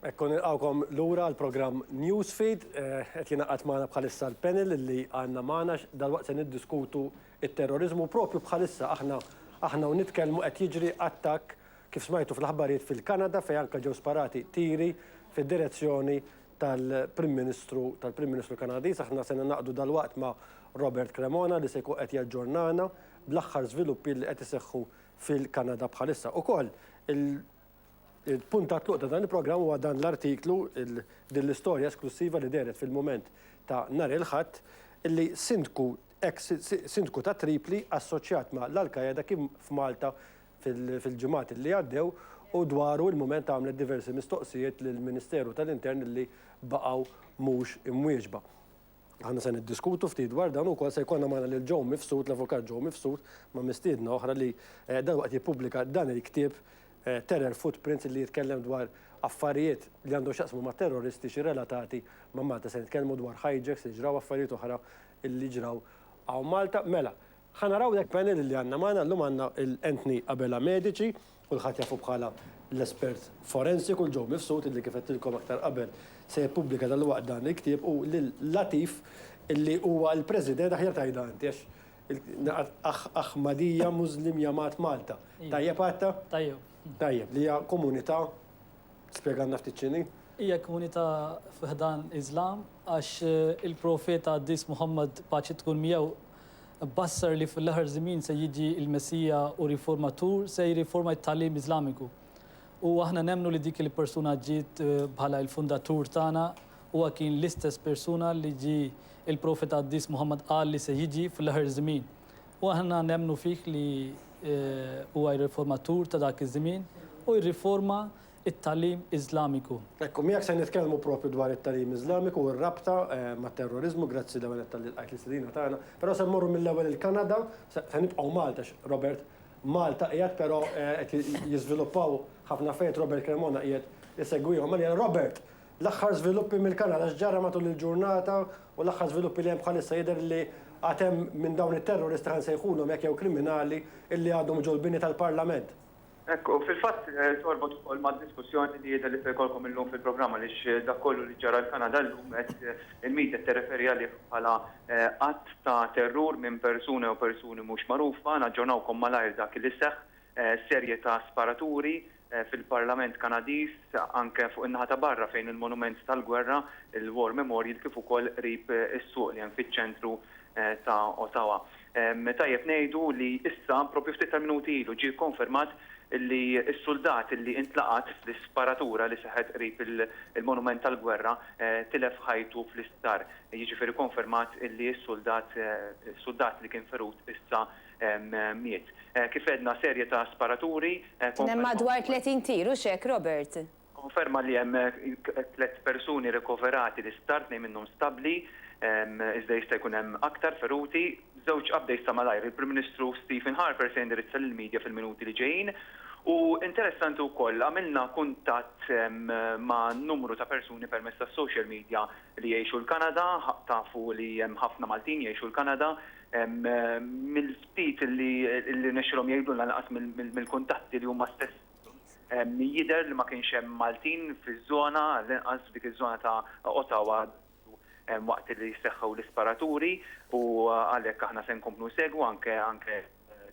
Ekku nilqawkom lura l-programm Newsfeed, eh, qed jingħaqad magħna bħalissa l-panel li għandna magħna dalwaqt se niddiskutu it-terrorizmu propju bħalissa aħna aħna u nitkellmu qed jiġri attakk kif smajtu fl-aħbarijiet fil-Kanada fejn anke ġew sparati tiri fid-direzzjoni tal-Prim Ministru tal-Prim Ministru Kanadiż aħna se naqdu dalwaqt ma' Robert Cremona li se jkun qed jaġġornana bl-aħħar żviluppi li qed iseħħu fil-Kanada bħalissa. Ukoll il-punt ta' tluq ta' dan il-programm huwa dan l-artiklu, din l-istorja esklussiva li dehret fil-mument ta' nhar il-Ħadd, li sindku, eks sindku ta' Tripli assoċjat ma' l-Al-Qaeda kien f'Malta fil-ġimgħat li għaddew u dwaru il-mument għamlet diversi mistoqsijiet lill-Ministeru tal-Intern li baqgħu mhux imwieġba. Aħna se niddiskutu ftit dwar dan u wkoll se jkollna magħna lil Joe Mifsud, l-Avukat Joe Mifsud, ma' mistiedna oħra li dan waqt jippubblika dan il-ktieb Terror Footprints li jitkellem dwar affarijiet li għandhom x'jaqsmu ma' terroristiċi relatati ma' Malta. Se nitkellmu dwar hijacks li ġraw, affarijiet oħra li ġraw hawn Malta. Mela, Ħa naraw jekk panel li għandna magħna llum għandna lil Anthony Abela Medici, kulħadd jafu bħala l-espert forensiku, lil Joe Mifsud illi kif għedtilkom aktar qabel se jippubblika dalwaqt dan il-ktieb u lil Latif illi huwa l-President, aħjar tgħidha inti għax Aħ Ahmadiyya Muslim Jamaat Malta. Tajjeb għadta? Tajjeb. Tajjeb, li hija komunità Spjegalna ftit x'inhi? Hija komunità fi ħdan Iżlam għax il-Profeta Qaddis Muħammad, paċi tkun miegħu, bassar li fl-aħħar żmien se jiġi l-Messija u Riformatur se jirriforma t-tagħlim Iżlamiku. U aħna nemmnu li dik il-persuna ġiet bħala il-Fundatur tagħna, huwa kien l-istess persuna li ġie il-Profeta Qaddis Muħammad qal li se jiġi fl-aħħar żmien. U aħna nemmnu fih li huwa r-riformatur ta' dak iż-żmien u jirriforma t-tagħlim Iżlamiku. Hekk hu, miegħek se nitkellmu proprju dwar it-tagħlim Iżlamiku u r-rabta mat-terroriżmu, grazzi l-ewwel nett talli lqajt l-istedina tagħna, però se mmorru mill-ewwel il-Kanada, se nibqgħu Malta għax Robert Malta qiegħed però qed jiżviluppaw ħafna affarijiet, Robert Cremona qiegħed isegwihom. Mela Robert, L-aħħar żviluppi mill-Kanada, x'ġara matul il-ġurnata u l-aħħar żviluppi li hemm bħalissa jidher li għad hemm minn dawn it-terroristi, ħa nsejħulhom hekk jew kriminali, illi għadhom ġo l-bini tal-Parlament. Hekk hu, fil-fatt torbot ukoll mad-diskussjoni li jidher li se jkollkom illum fil-programm għaliex dak kollu li ġara l-Kanada llum qed il-media qed tirreferi għalih bħala att ta' terrur minn persuna jew persuni mhux magħrufa, naġġornawkom malajr dak li seħħ, serje ta' sparaturi, fil-Parlament Kanadiż, anke fuq in-naħa ta' barra fejn il-monument tal-gwerra, il-War Memorial, kif ukoll qrib is-suq li hemm fiċ-ċentru ta' Ottawa. Tajjeb ngħidu li issa, proprju ftit tal-minuti ilu, ġie kkonfermat li s-suldat li intlaqat fl-isparatura li seħħet qrib il-monument tal-gwerra tilef ħajtu fl-isptar. Jiġifieri kkonfermat li s-suldat li kien ferut issa miet. Kif għedna, serje ta' sparaturi. Kien hemm madwar 30 tir, hux hekk, Robert? Konferma li hemm tliet persuni rikoverati l-isptar, tnejn minnhom stabbli, iżda jista' jkun hemm aktar feruti. Żewġ updates ta' malajr, il-Prim Ministru Stephen Harper se jindirizza lill-media fil-minuti li ġejjin. U interessanti wkoll, għamilna kuntatt ma' numru ta' persuni permezz tas-social media li jgħixu l-Kanada, tafu li hemm ħafna Maltin jgħixu l-Kanada, Mill-ftit li rnexxielhom jgħidulna lanqas mill-kuntatti li huma stess jidher li ma kienx hemm Maltin fiż-żona, għall-inqas f'dik iż-żona ta' Ottawa waqt li seħħew l-isparaturi u għalhekk aħna se nkomplu nsegwu anke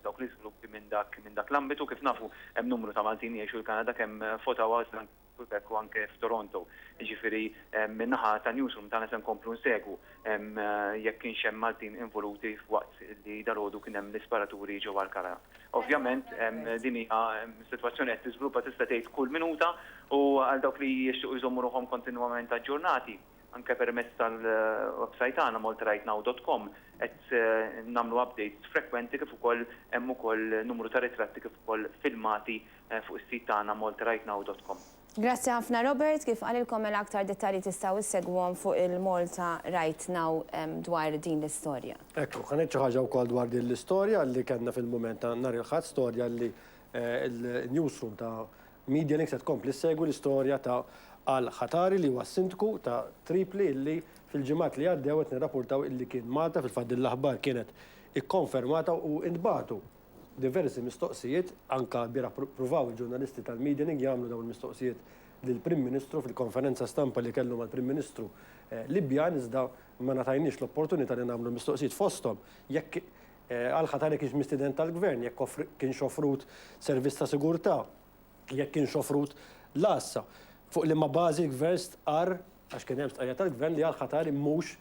dawk l-iżviluppi minn dak l-ambitu. Kif nafu hemm numru ta' Maltin li jgħixu l-Kanada kemm f'Ottawa iżda anke Quebec u anke f'Toronto. Jiġifieri min-naħa tan-newsroom tagħna se nkomplu nsegwu jekk kienx hemm Maltin involuti waqt li dalgħodu kien hemm l-isparaturi ġewwa Alcala. Ovvjament din hija sitwazzjoni qed tiżviluppa tista' tgħid kull minuta u għal dawk li jixtiequ jżommu ruħhom kontinwament aġġornati anke permezz tal-websajt tagħna maltarightnow dot com qed nagħmlu updates frekwenti kif ukoll hemm ukoll numru ta' ritratti kif ukoll filmati fuq is-sit tagħna maltarightnow.com. Grazzi ħafna Robert, kif qalilkom mela aktar dettalji tistgħu ssegwuhom fuq il-Malta Right Now dwar din l-istorja. Hekk hu, ħa ngħid xi ħaġa wkoll dwar din l-istorja li kellna fil-mument ta' nhar il-Ħadd, storja li l-newsroom ta' Medialinks qed tkompli ssegwi l-istorja ta' Al Khatari li huwa s-Sindku ta' Tripli li fil-ġimgħat li għaddew qed nirrapurtaw li kien Malta, fil-fatt din l-aħbar kienet ikkonfermata u ntbagħtu diversi mistoqsijiet, anke lbieraħ pruvaw il-ġurnalisti tal-Medianing jagħmlu dawn il-mistoqsijiet lill-Prim Ministru fil-konferenza stampa li kellu mal-Prim Ministru Libjan iżda ma ngħatajniex l-opportunità li nagħmlu mistoqsijiet fosthom jekk al-Khatari kienx mistieden tal-Gvern, jekk kienx offrut servizz ta' sigurtà, jekk kienx offrut l-għassa, fuq liema bażi l-Gvern stqarr Għax kien hemm stqarrija tal-Gvern li għall-Qatar mhux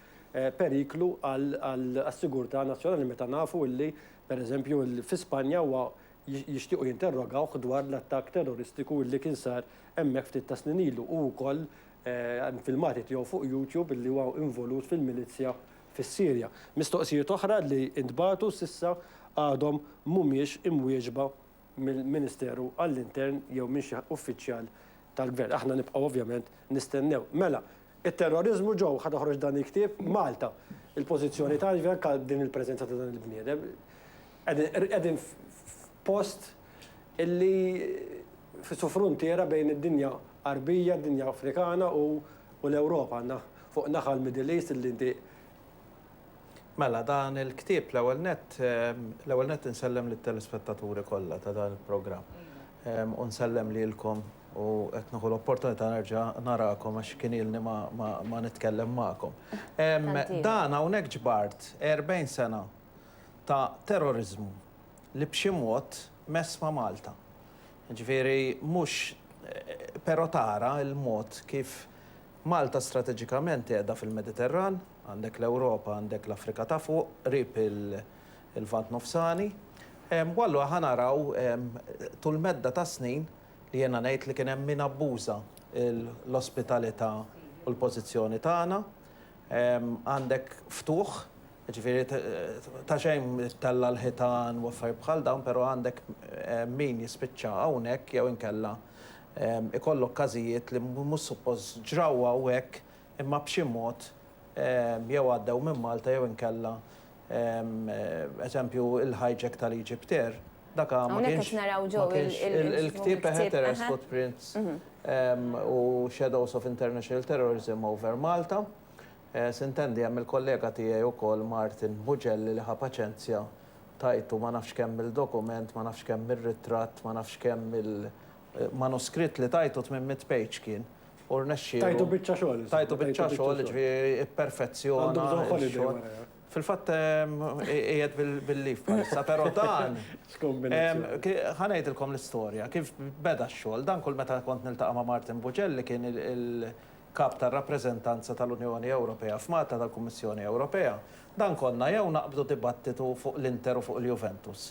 periklu għas-sigurtà nazzjonali meta nafu li, per eżempju, fi Spanja huwa jixtiequ jinterrogawh dwar l-attakk terroristiku li kien sar hemmhekk ftit tas-snin ilu. Hu wkoll hemm filmati tiegħu fuq YouTube illi huwa involut fil-milizzja fis-Sirja. Mistoqsijiet oħra li ntbagħtu s'issa għadhom mhumiex imwieġba mill-Ministeru għall-Intern jew minn xi uffiċjal tal-Gvern. Aħna nibqgħu ovvjament nistennew. Mela, it-terroriżmu ġo, ħa toħroġ dan il-ktieb, Malta. Il-pożizzjoni tagħna jiġifieri anke din il-preżenza ta' dan il-bniedem. Qegħdin f'post illi su fruntiera bejn id-dinja Għarbija, d-dinja Afrikana u l-Ewropa. Għandna fuq naħa l-Middle East illi inti Mela dan il-ktieb l-ewwel nett l-ewwel nett insellem lit-telespettaturi kollha ta' dan il-programm u nsellem lilkom u qed nieħu l-opportunità nerġa' narakom għax kien ilni ma ma ma nitkellem magħkom. Dan hawnhekk ġbart 40 sena ta' terroriżmu li b'xi mod mess ma' Malta. Jiġifieri mhux però tara l-mod kif Malta strateġikament qiegħda fil-Mediterran, Għandek l-Ewropa, għandek l-Afrika ta' Fuq, qrib il-Lvant Nofsani. U allura ħa naraw tul medda ta' snin li jiena ngħid li kien hemm min abbuża l-ospitalità u l-pożizzjoni tagħna. Għandek ftuħ, jiġifieri ta' xejn ittella' l-ħitan u affarijiet bħal dawn, però għandek min jispiċċa hawnhekk jew inkella ikollok każijiet li mhux suppost ġraw hawn hekk imma b'xi mod jew għaddew minn Malta jew inkella, eżempju, il-hijack tal-Egypt Air, dak ma kienx il-ktieb Eheteres Footprints u Shadows of International Terrorism over Malta. Sintendi, hemm il-kollega tiegħi wkoll Martin Bugelli li ħa paċenzja, tajtu ma nafx kemm-il dokument, ma nafx kemm-il ritratt, ma nafx kemm-il manuskritt li tajtu tmien mitt page kien, u rnexxielu. Tajtu biċċa xogħol insomma. Tajtu biċċa xogħol, jiġifieri ipperfezzjona. Għandu bżonn holiday wara. Fil-fatt qiegħed bil-leave bħalissa, però dan. X'kombinazzjoni. Ħa ngħidilkom l-istorja kif beda x-xogħol. Dan kull meta kont niltaqa' ma' Martin Buġell li kien il-Kap tar-Rappreżentanza tal-Unjoni Ewropea f'Malta tal-Kummissjoni Ewropea, dan konna jew naqbdu dibattitu fuq l-Inter u fuq il-Juventus.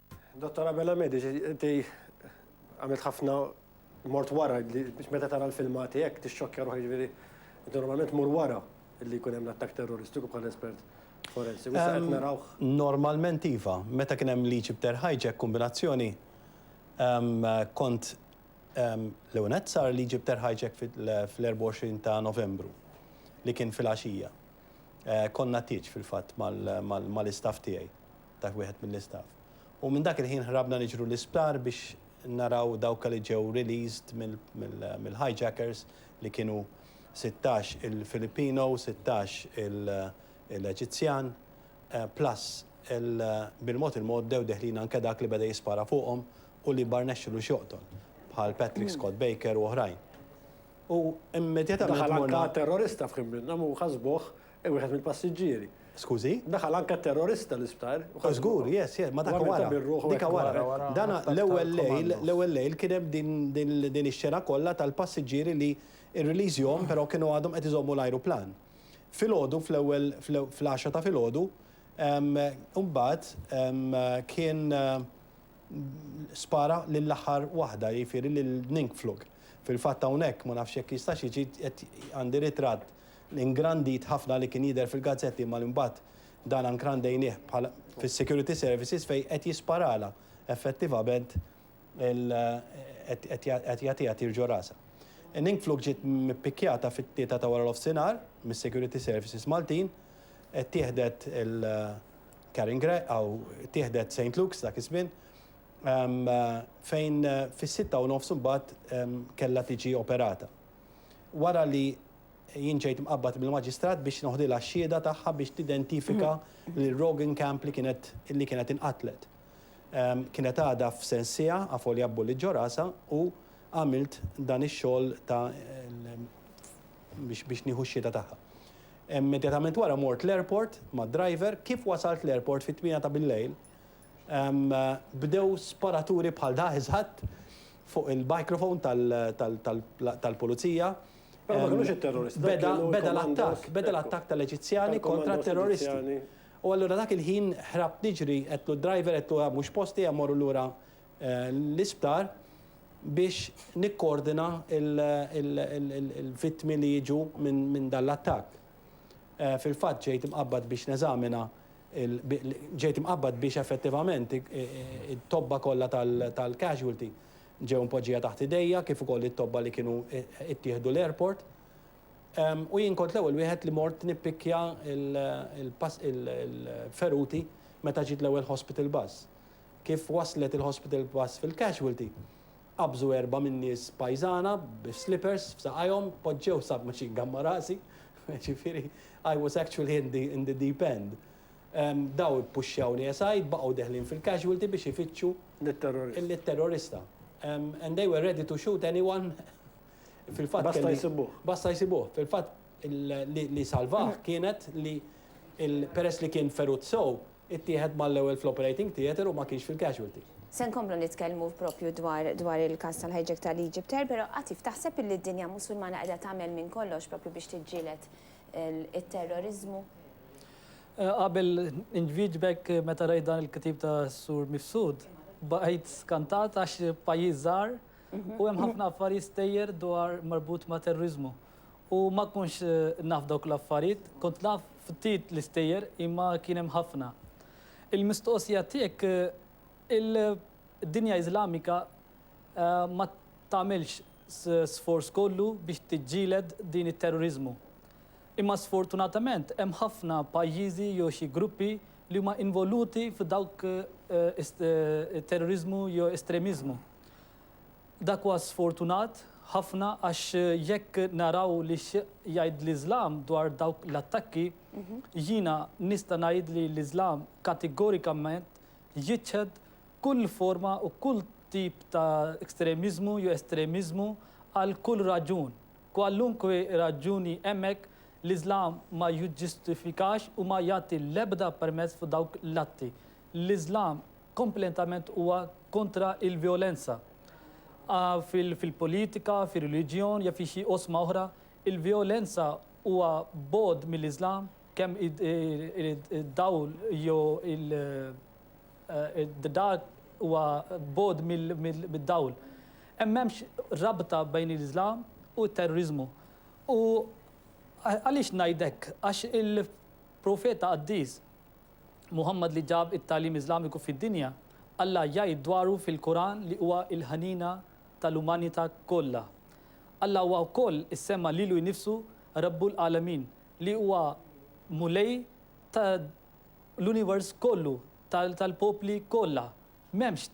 Dottor Abela Mediċ, inti għamilt ħafna mort wara li biex meta tara l-filmati hekk tixxokkja ruħek ġifieri inti normalment mur wara li jkun hemm l-attakk terroristiku bħala espert forensiku. Issa qed narawh. Normalment iva. Meta kien hemm l-Egypt Air Hijack kombinazzjoni kont l-ewwel nett sar l-Egypt Air Hijack fl-24 ta' Novembru li kien filgħaxija. Konna tieġ fil-fatt mal-istaff tiegħi. dak wieħed mill-istaff. U minn dak il-ħin ħrabna niġru l-isptar biex naraw dawka li ġew released mill-hijackers li kienu sittax il-Filipino, sittax il-Eġizzjan, plus bil-mod il-mod bdew deħlin anke dak li beda jispara fuqhom u li ma rnexxilux joqtol, bħal Patrick Scott Baker u oħrajn. U immedjatament morna. Daħal anke terrorista f'ħin minnhom u ħasbuh Wieħed mill-passiġġieri. Skużi? Daħal anke terrorista l-isptar. Żgur, yes, yes, ma dak wara. Dik wara. Dan l-ewwel lejl, l-ewwel lejl kien hemm din ix-xena kollha tal-passiġġieri li rriliżjhom però kienu għadhom qed iżommu l-ajruplan. Filgħodu fl-ewwel fl-għaxra ta' filgħodu imbagħad kien spara lill-aħħar waħda, jiġifieri lil Ningflug. Fil-fatt hawnhekk ma nafx jekk jistax jiġi qed għandi ritratt Ingrandit ħafna li kien jidher fil-gazzetti imma li mbagħad dan ankrandejnieh bħala fis-security services fejn qed jisparalha effettivament il qed jagħtiha tir ġo rasha. Ningflug ġiet mippikkjata fit-tlieta ta' wara l-offsinhar mis-security services Maltin, ittieħdet il Karen Gregg aw ittieħdet Saint Luke's dak iż-żmien fejn fis-sitta u nofs imbagħad kellha tiġi operata. wara li jien ġejt mqabbad mill-Maġistrat biex noħdilha x-xhieda tagħha biex tidentifika lil Roggenkamp li kienet li kienet inqatlet. Kienet għadha f'Sensiha, avolja b'bulliet ġo rasha, u għamilt dan ix-xogħol ta' biex nieħu x-xhieda tagħha. Immedjatament wara mort l-airport mad-driver, kif wasalt l-airport fit-tmiena ta' billejl, Bdew sparaturi bħal dak eżatt fuq il-microphone tal-pulizija. Però ma kinux it-terroristi. Beda l-attakk, beda l-attakk tal-Eġizzjani kontra t-terroristi. U allura dak il-ħin ħrabt niġri, għedtlu d-driver, għedtlu dan mhux post tiegħi mmorru lura l-isptar biex nikkoordina l-vittmi li jiġu minn dan l-attakk. Fil-fatt ġejt imqabbad biex neżamina ġejt imqabbad biex effettivament it-tobba kollha tal-casualty ġew impoġġija taħt idejja kif ukoll it-tobba li kienu ttieħdu l-airport. U jien kont l-ewwel wieħed li mort nippikkja l-feruti meta ġiet l-ewwel hospital bus. Kif waslet il-hospital bus fil-casualty, Qabżu erbgħa min-nies pajżana bis-slippers f'saqajhom, poġġew sub-machine gun ma' rasi, jiġifieri I was actually in the deep end. Dawn ippuxxjawni aside, baqgħu deħlin fil-casualty biex ifittxu lit-terrorista. And they were ready to shoot anyone fil-fatt kelli. Basta jsibuh. Basta jsibuh. Fil-fatt li salvah kienet li peress li kien ferut sew, ittieħed mal-ewwel fl-operating theatre u ma kienx fil-casualty. Se nkomplu nitkellmu propju dwar dwar il-każ tal-hijack tal-Egypt Air, però Atif, taħseb illi d-dinja Musulmana qiegħda tagħmel minn kollox propju biex tiġġieled it-terroriżmu? Qabel inwieġbek, meta rajt dan il-ktieb tas-Sur Mifsud, baqajt skantat għax pajjiż żgħar u hemm ħafna affarijiet stejjer dwar marbut ma' terroriżmu. u ma kontx naf dawk l-affarijiet, kont naf ftit l-istejjer imma kien hemm ħafna. Il-mistoqsija tiegħek il-dinja Iżlamika ma tagħmilx sforz kollu biex tiġġieled din it-terroriżmu. Imma sfortunatament hemm ħafna pajjiżi jew xi gruppi li huma involuti f'dawk terroriżmu jew estremiżmu. Dak huwa sfortunat ħafna għax jekk naraw li x'jgħid l-Iżlam dwar dawk l-attakki, jiena nista' ngħid li l-Iżlam kategorikament jiċħed kull forma u kull tip ta' ekstremiżmu jew estremiżmu għal kull raġun. Kwalunkwe raġuni hemm hekk, l-Iżlam ma jiġġustifikax u ma jagħti l-ebda permess f'dawk l-atti. L-Iżlam kompletament huwa kontra l-vjolenza fil-politika, fir-reliġjon jew fi xi oqsma oħra. Il-vjolenza huwa bogħod mill-Iżlam kemm id-dawl jew id-dark huwa bogħod mid-dawl. Hemm m'hemmx rabta bejn il-Iżlam u t-terroriżmu. U għaliex ngħid hekk? Għax il-Profeta qaddis, Muħammad li ġab it-tagħlim Iżlamiku fid-dinja, Alla jgħid dwaru fil-Quran li huwa l-ħniena tal-umanità kollha. Alla huwa wkoll issemma lilu nnifsu Rabbul Għalamin, li huwa Mulej ta' l-univers kollu, tal-popli kollha. M'hemmx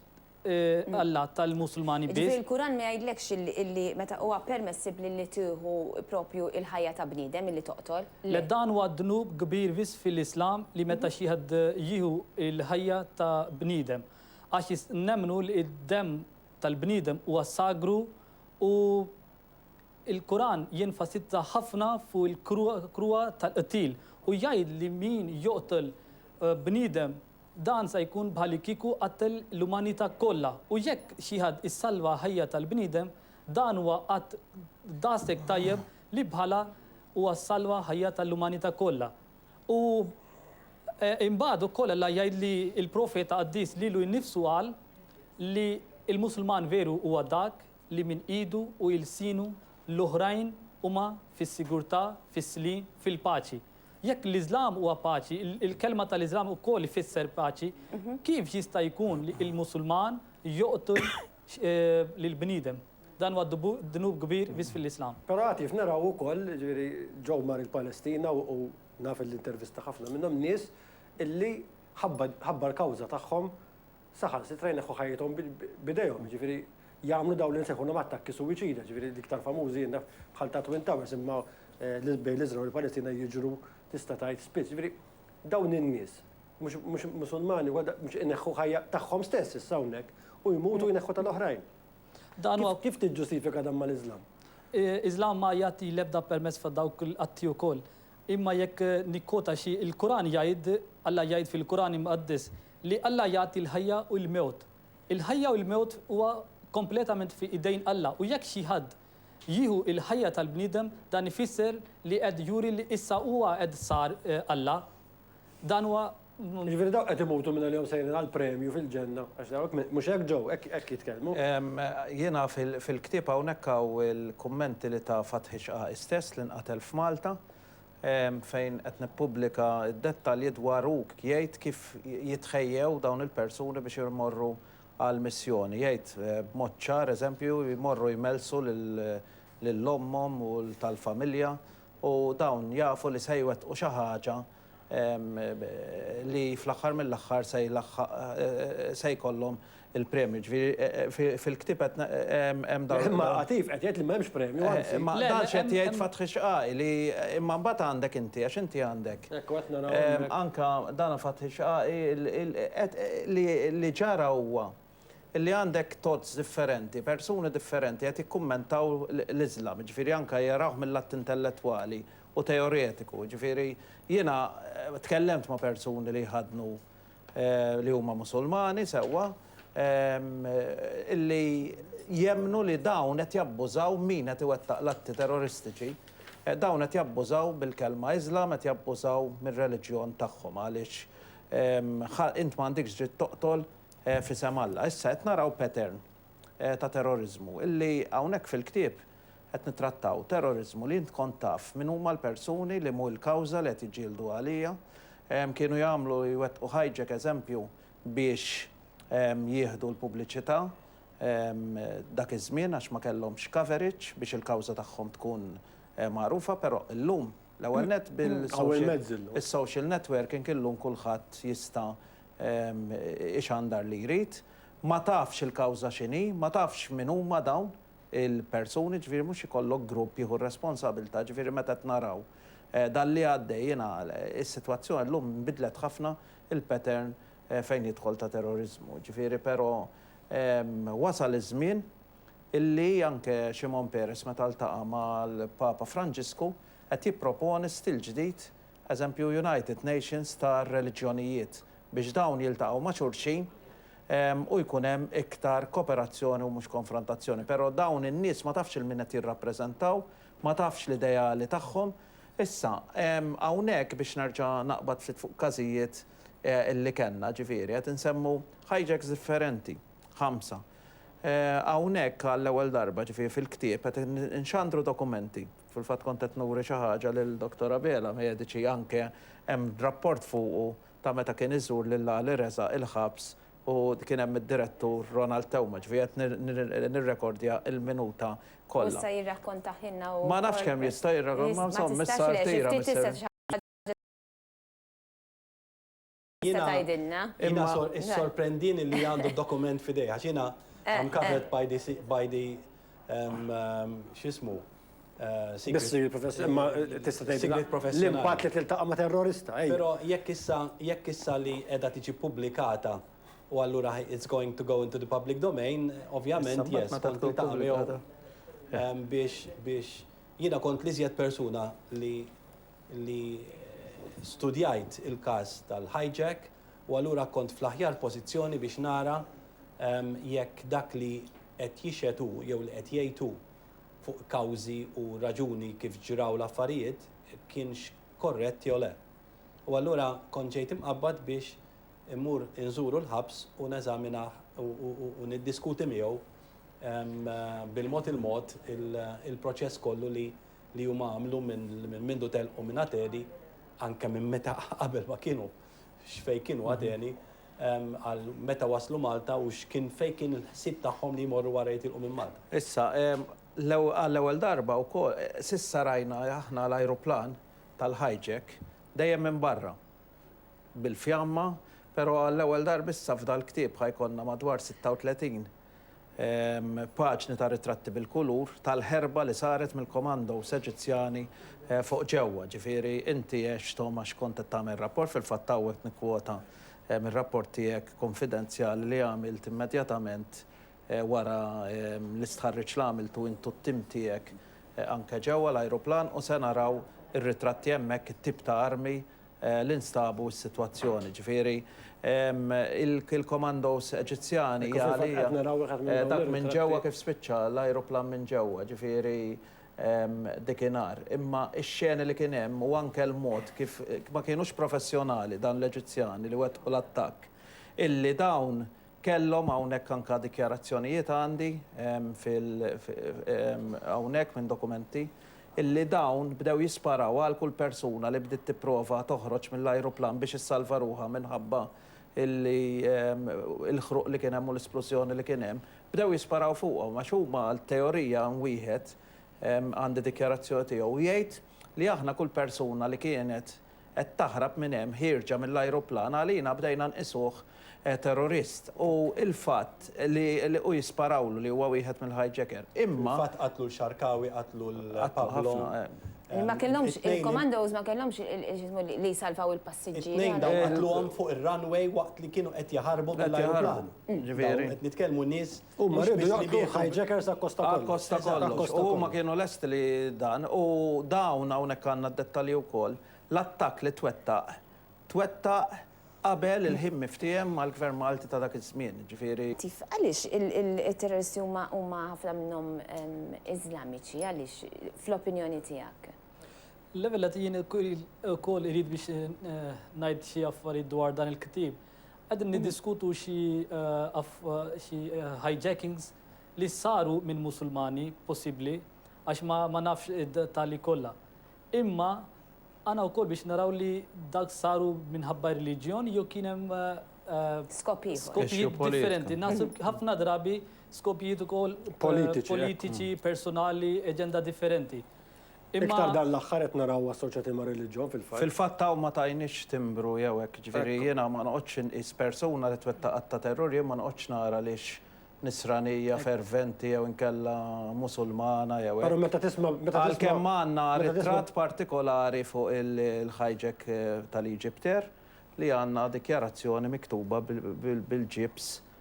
Allat tal-Musulmani biss. Jiġifieri l-Kuran ma jgħidlekx illi meta huwa permessibbli li tieħu proprju l-ħajja ta' bniedem illi toqtol. Le dan huwa dnub kbir biss fil-Islam li meta xi ħadd jieħu l-ħajja ta' bniedem. Għax nemmnu li d-demm tal-bniedem huwa sagru u Il-Kuran jenfasizza ħafna fuq il-kruha tal-qtil u jgħid li min joqtol bniedem dan sa jkun bħalikieku qattel l-umanità kollha u jekk xi ħadd issalva ħajja tal-bniedem dan huwa att daqshekk tajjeb li bħalha huwa ssalva ħajja tal-umanità kollha. U imbagħad ukoll Alla jgħid li l-Profeta qaddis lilu nnifsu qal li l-Musulman veru huwa dak li minn idu u ilsienu l-oħrajn huma fis-sigurtà, fis-sliem, fil-paċi. Jekk l-Iżlam huwa paċi, il-kelma tal-Iżlam ukoll ifisser paċi, kif jista' jkun li l-Musulman joqtol lill-bniedem? Dan huwa dnub kbir biss fil-Iżlam. Però għad kif naraw ukoll, jiġifieri Joe mar il-Palestina u naf li intervista ħafna minnhom, nies illi ħabba l-kawża tagħhom saħansitra jneħħu ħajjithom b'idejhom, jiġifieri jagħmlu dawn li nsejħulhom attakki suwiċida, jiġifieri l-iktar famużi jien naf bħal ta' Twin Towers imma bejn l-Iżrael u l-Palestina jiġru tista' tgħid spiss. Jiġifieri dawn in-nies mhux mhux Musulmani huwa da mhux ineħħu ħajja tagħhom stess issa hawnhekk u jmutu jneħħu tal-oħrajn. Dan huwa Kif tiġġustifika dan mal-Iżlam? Iżlam ma jagħti l-ebda permess fa' dawk l-atti wkoll. Imma jekk nikkwota xi il-Quran jgħid, Alla jgħid fil-Quran Imqaddes, Li Alla jagħti l-ħajja u l-mewt. Il-ħajja u l-mewt huwa kompletament fi idejn Alla u jekk xi ħadd jieħu l-ħajja tal-bniedem dan ifisser li qed juri li issa huwa qed sar Alla. Dan huwa. Jiġifieri dawk qed imutu minn għalihom sejrin għal premju fil-Ġenna għax dawk mhux hekk ġew? Hekk jitkellmu? Jiena fil-ktieb hawnhekk hawn il-kummenti li ta Fathi X'qaqa' stess li nqatel f'Malta fejn qed nippubblika d-dettalji dwar u jgħid kif jitħejjew dawn il-persuni biex imorru għall-missjoni. Jgħid b'mod ċar, eżempju, jmorru jmellsu lil ommhom u tal-familja u dawn jafu li se jwettqu xi ħaġa li fl-aħħar mill-aħħar se jlaħħaq se jkollhom il-premju, ġifieri fil-ktieb qed hemm dawn. Imma Għatif qed jgħid li m'hemmx premju, anzi. Imma dan x'qed jgħid Fathi Xqai li imma mbagħad għandek inti għax inti għandek. Hekk qed naraw hawnhekk. Anke dan Fathi Xqai li ġara huwa li għandek thoughts differenti, persuni differenti qed jikkummentaw l-Iżlam, jiġifieri anke jarawh mill-lat intellettwali u teoretiku, jiġifieri jiena tkellemt ma' persuni li jħaddnu. li huma Musulmani, sewwa, li jemmnu li dawn qed jabbużaw, min qed iwettaq l-atti terroristiċi, dawn qed jabbużaw bil-kelma Islam, qed jabbużaw mir-reliġjon tagħhom għaliex int ma għandikx dritt toqtol f'isem Alla. Issa qed naraw pattern ta' terroriżmu li hawnhekk fil-ktieb Qed nittrattaw terroriżmu li int kont taf min huma l-persuni li mhu l-kawża li qed jiġġieldu għaliha. Kienu jagħmlu, jwettqu hijack eżempju biex jieħdu l-pubbliċità dak iż-żmien għax ma kellhomx coverage biex il-kawża tagħhom tkun magħrufa però llum l-ewwel nett bil-social networking illum kulħadd jista' ixandar li jrid. Ma tafx il-kawża x'inhi, ma tafx min huma dawn. il-persuni, ġifieri mhux ikollok grupp jieħu r-responsabilità, ġifieri meta qed naraw dan li għaddej jiena is-sitwazzjoni llum nbidlet ħafna il-pattern fejn jidħol ta' terroriżmu, ġifieri però wasal iż-żmien illi anke Shimon Peres meta ltaqa' mal-Papa Franġisku qed jipproponi stil ġdid eżempju United Nations tar-reliġjonijiet, biex dawn jiltaqgħu ma' xulxin u jkun hemm iktar koperazzjoni u mhux konfrontazzjoni. Però dawn in-nies ma tafx 'il min qed jirrappreżentaw, ma tafx l-ideali tagħhom. Issa, hawnhekk biex nerġa' naqbad ftit fuq każijiet li kellna, ġifieri qed insemmu hijacks differenti, ħamsa. Hawnhekk għall-ewwel darba, ġifieri fil-ktieb, qed inxandru dokumenti. Fil-fatt kont qed nuri xi ħaġa lil Dottor Abela, mediċi anke hemm rapport fuqu ta' meta kien iżur lil Ali Reza il-ħabs u kien hemm id-direttur Ronald Theuma, ġifieri qed nirrekordja l-minuta kollha. U jista' jirrakkontahielna u. Ma nafx kemm jista' jirrakkontahielna, ma insomma issa rtira Mister. Tista' tgħidilna? Imma issorprendini li għandu d-dokument f'idejh għax jiena I'm covered by the by the x'ismu Sigriet professjonali. Imma tista' tgħidilna l-impatt li tiltaqa' ma' terrorista. Però jekk issa jekk issa li qiegħda tiġi ppubblikata u allura it's going to go into the public domain, ovvjament yes kont niltaqa' miegħu biex biex jiena kont l-iżjed persuna li li studjajt il-każ tal-hijack u allura kont fl-aħjar pożizzjoni biex nara jekk dak li qed jixhed hu jew li qed jgħid hu fuq kawżi u raġuni kif ġraw l-affarijiet kienx korrett jew le. U allura kont ġejt imqabbad biex immur inżuru l-ħabs u neżaminah u niddiskuti miegħu bil-mod il-mod il-proċess kollu li li huma għamlu minn mindu telqu minn Ateni, anke minn meta qabel ma kienu, x'fejn kienu Ateni, għal meta waslu Malta u x'kien fejn kien il-ħsieb tagħhom li jmorru wara jitilqu minn Malta. Issa, għall-ewwel darba wkoll, s'issa rajna aħna l-ajruplan tal-hijack dejjem minn barra, bil-fjamma, però għall-ewwel darba issa f'dal-ktieb ħa jkollna madwar 36 paġni ta' ritratti bil-kulur tal-ħerba li saret mill-komandos Eġizzjani fuq ġewwa. Ġifieri inti għext hom għax kont qed tagħmel rapport, fil-fatt hawn qed nikkwota mir-rapport tiegħek kunfidenzjali li għamilt immedjatament wara l-istħarriġ li għamiltu int u t-tim tiegħek anke ġewwa l-ajruplan u se naraw ir-ritratti hemmhekk it-tip ta' armi li nstabu s-sitwazzjoni, jiġifieri il-commandos Eġizzjani għalija dak minn ġewwa kif spiċċa l-ajruplan minn ġewwa, jiġifieri dikinhar. Imma x-xeni li kien hemm u anke l-mod kif ma kienux professjonali dawn l-Eġizzjani li wettqu l-attakk illi dawn Kellhom hawnhekk anke dikjarazzjonijiet għandi fil hawnhekk minn dokumenti illi dawn bdew jisparaw għal kull persuna li bdiet tipprova toħroġ mill-ajruplan biex issalva ruħha minħabba illi il-ħruq li kien hemm u l-isplużjoni li kien hemm. Bdew jisparaw fuqhom għax huma għat-teorija hemm wieħed għandi dikjarazzjoni tiegħu jgħid li aħna kull persuna li kienet qed taħrab minn hemm ħierġa mill-ajruplan għalina bdejna nqisuh terrorist u l-fatt li u jisparawlu li huwa wieħed mill-hijacker imma. Fil-fatt qatlu l-Xarkawi qatlu l. Qatlu ħafna hemm. Ma kellhomx il-commandos ma kellhomx x'ismu li jsalvaw il-passiġġieri. It-tnejn dawn qatluhom fuq ir-runway waqt li kienu qed jaħarbu mill-ajruplan. Ġifieri. Qed nitkellmu nies. Huma riedu joqtlu l-hijackers akkosta kollox. Akkosta kollox. U huma kienu lesti li dan. U dawn, hawnhekk għandna d-dettalji wkoll, l-attakk li twettaq, twettaq qabel il-ħin miftiehem mal-Gvern Malti ta' dak iż-żmien, jiġifieri. Għaliex it-terroristi huma ħafna minnhom Iżlamiċi? Għaliex, fl-opinjoni tiegħek? L-ewwel nett, jien ukoll irid biex ngħid xi affarijiet dwar dan il-ktieb. Qegħdin niddiskutu xi hijackings li saru minn Musulmani, possibbli, għax ma nafx id-dettalji kollha. Imma għandna wkoll biex naraw li dak saru minħabba r-reliġjon jew kien hemm skopijiet differenti. Naħseb ħafna drabi skopijiet ukoll politiċi, personali, aġenda differenti. Imma Iktar dan l-aħħar qed narawhom assoċjati mar-reliġjon fil-fatt. Fil-fatt hawn ma tagħniex timbru jew hekk, jiġifieri Hekk hu. jiena ma noqgħodx inqis persuna li twettaq att ta' terrur, jien ma noqgħodx nara li hix Nisranija Hekk hu. ferventi jew inkella Musulmana jew Però hekk. meta tisma' meta tisma' Għalkemm għandna meta tisma' ritratt partikolari fuq il-hijack tal-Egyptair li għandna dikjarazzjoni miktuba bil-ġibs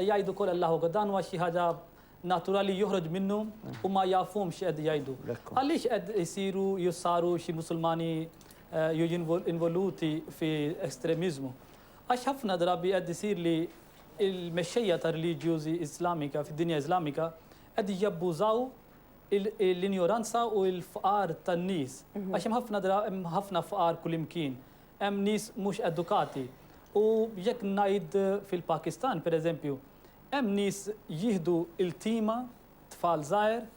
Jgħidu kol Allahu Akbar, dan huwa xi ħaġa naturali joħroġ minnu u ma jafhomx x'qed jgħidu. Għaliex qed isiru jew saru xi Musulmani jew involuti fi estremiżmu? Għax ħafna drabi qed isir li l-mexxejja ta' reliġjużi Islamika fid-dinja Islamika qed jabbużaw l-injoranza u l-fqar tan-nies. Għax hemm ħafna hemm ħafna fqar kullimkien. Hemm nies mhux edukati u jekk ngħid fil-Pakistan, per eżempju, hemm nies jieħdu iltima tfal żgħir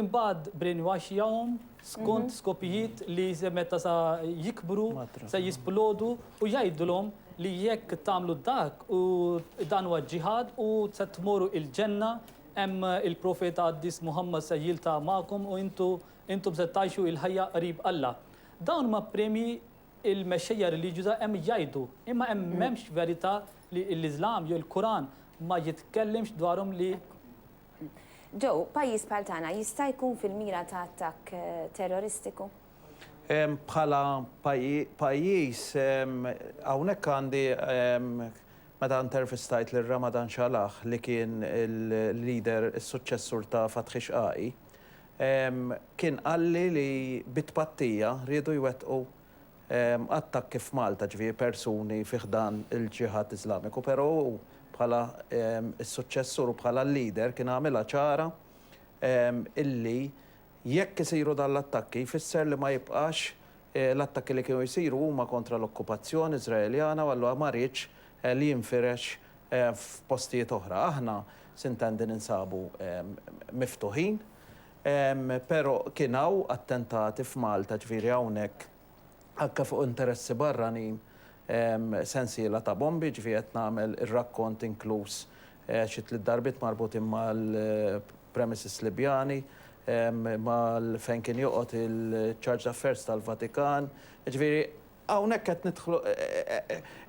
imbagħad brainwashjahom skont skopijiet li se meta sa jikbru se jisplodu u jgħidulhom li jekk tagħmlu dak u dan huwa ġ-ġihad u se tmoru il-ġenna hemm il-profeta qaddis Muhammad se jilta' magħkom u intu Intom se tgħixu il-ħajja qrib Alla. Dawn huma premji il-mexxejja reliġjuża hemm jgħidu, imma hemm m'hemmx verità li l-Iżlam jew il-Quran ma jitkellimx dwarhom li. Joe, pajjiż bħal tagħna jista' jkun fil-mira ta' attakk terroristiku? Bħala pajjiż, hawnhekk għandi, meta intervistajt lil Ramadan Shalah li kien il-leader, is-suċċessur ta' Fathi Shaqaqi, Kien qalli li bi tpattija riedu jwettqu attakki f'Malta, ġifieri persuni fi ħdan il-Ġiħad Iżlamiku, però hu bħala s-suċċessur u bħala l-leader kien għamilha ċara illi jekk isiru dan l-attakki jfisser li ma jibqax L-attakki li kienu jsiru huma kontra l-okkupazzjoni Iżraeljana u allura ma riedx li jinfirex f'postijiet oħra. Aħna Sint'Andy ninsabu miftuħin però kien hawn attentati f'Malta ġifieri hawnhekk anke fuq interessi barranin sensiela ta' bombi ġifieri qed nagħmel ir-rakkont inkluż xi tliet darbiet marbutin mal-premises Libjani, mal fejn kien joqgħod il-Charge d'Affairs tal-Vatikan. Jiġifieri hawnhekk qed nidħlu,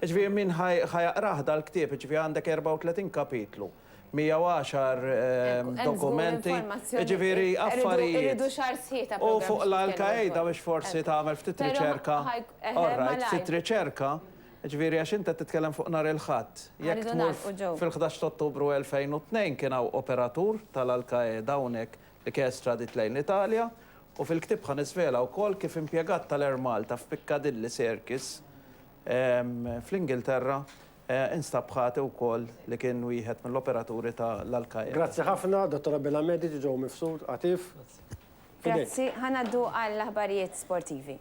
jiġifieri min ħa ħa jaqrah dal-ktieb, jiġifieri għandek 34 kapitlu, 110 dokumenti, jiġifieri affarijiet, u fuq l-Al Qaeda biex forsi tagħmel ftit riċerka, all right, ftit riċerka, Jiġifieri għax int qed titkellem fuq nhar il-Ħadd. Jekk tmur fil-ħdax ta' Ottubru 2002 kien hawn operatur tal-Al Qaeda hawnhekk li kien estradit lejn l-Italja u fil-ktieb ħa niżvela wkoll kif impjegat tal-Air Malta f'Piccadilly Circus fl-Ingilterra instab ħati wkoll li kien wieħed mill-operaturi tal-Al Qaeda. Grazzi ħafna, Dottor Abela Mediċi ġew mifsud, Għatif, fidejk. Grazzi, ħa ngħaddu għall-aħbarijiet sportivi.